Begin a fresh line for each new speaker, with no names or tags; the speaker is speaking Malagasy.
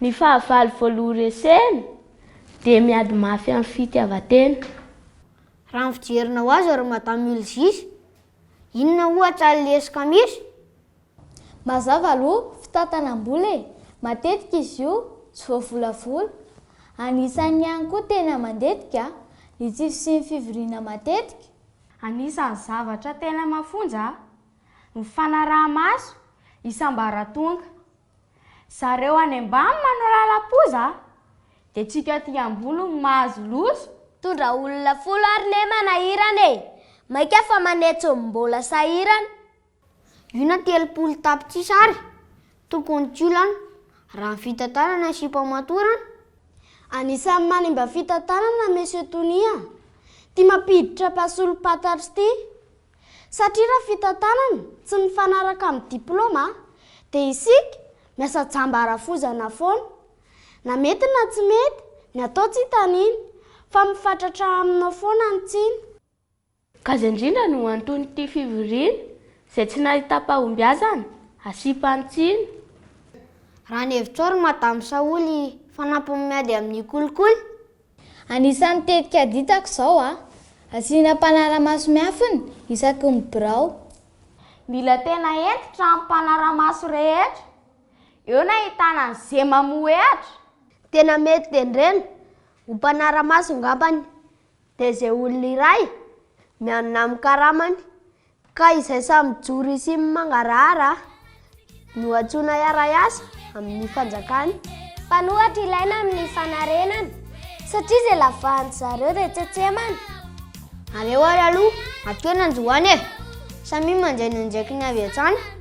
Ny fahavalo voaloha resena dia miady mafy amin'ny fitiavan-tena.
Raha ny fijerinao azy ry Madame Ulzis, inona ohatra ny lesoka misy?
Mazava aloha fitantanam-bola e! Matetika izy io tsy voavolavola. Anisan'ny ihany koa tena mandetika ny tsy fisian'ny fivoriana matetika. Anisan'ny
zavatra tena mafonja ny fanaraha-maso isam-baratonga. Zareo any ambany manao lalam-poza de tsika aty ambony no mahazo loza. Mitondra olona
folo ary ne manahirana e! Maika fa manetso ny mbola sahirana. Io
na telopolo tapitrisa ary tokony tsy olana raha ny fitantanana sy famatorana. Anisan'ny
manimba fitantanana Monsieur Tonia ty mampiditra mpasolom-pantatro ty. Satria raha fitantanana tsy mifanaraka amin'ny diplaoma dia isika miasa jamba arafozana foana. Na mety na tsy mety, ny atao tsy hitaniana fa mifatratra aminao foana ny tsiny. Gaga
indrindra no anton'ity fivoriana izay tsy nahitam-pahombiazana asiam-pano tsiny.
Raha ny hevitrao ry Madame Saholy fanampiny miady amin'ny kolikoly? Anisan'ny
tetika aditako izao a. Asiana mpanara-maso miafina isaky ny birao. Mila
tena hentitra amin'ny mpanara-maso rehetra. Eo no ahitana ny ze mamohehatra. Tena mety
tendrena ho mpanara-maso ngambany dia ze olona iray mianona amin'ny karamany Ka izay samy mijoro sy mangarahara no antsoina hiara-hiasa amin'ny fanjakana. Mpanohatra
ilaina amin'ny fanarenana, satria izay lavahan'ny zareo dia tsentsemana.
Aleo ary aloha, atoy ny anjoany e! Samia mandray ny andraikiny avy hatrany.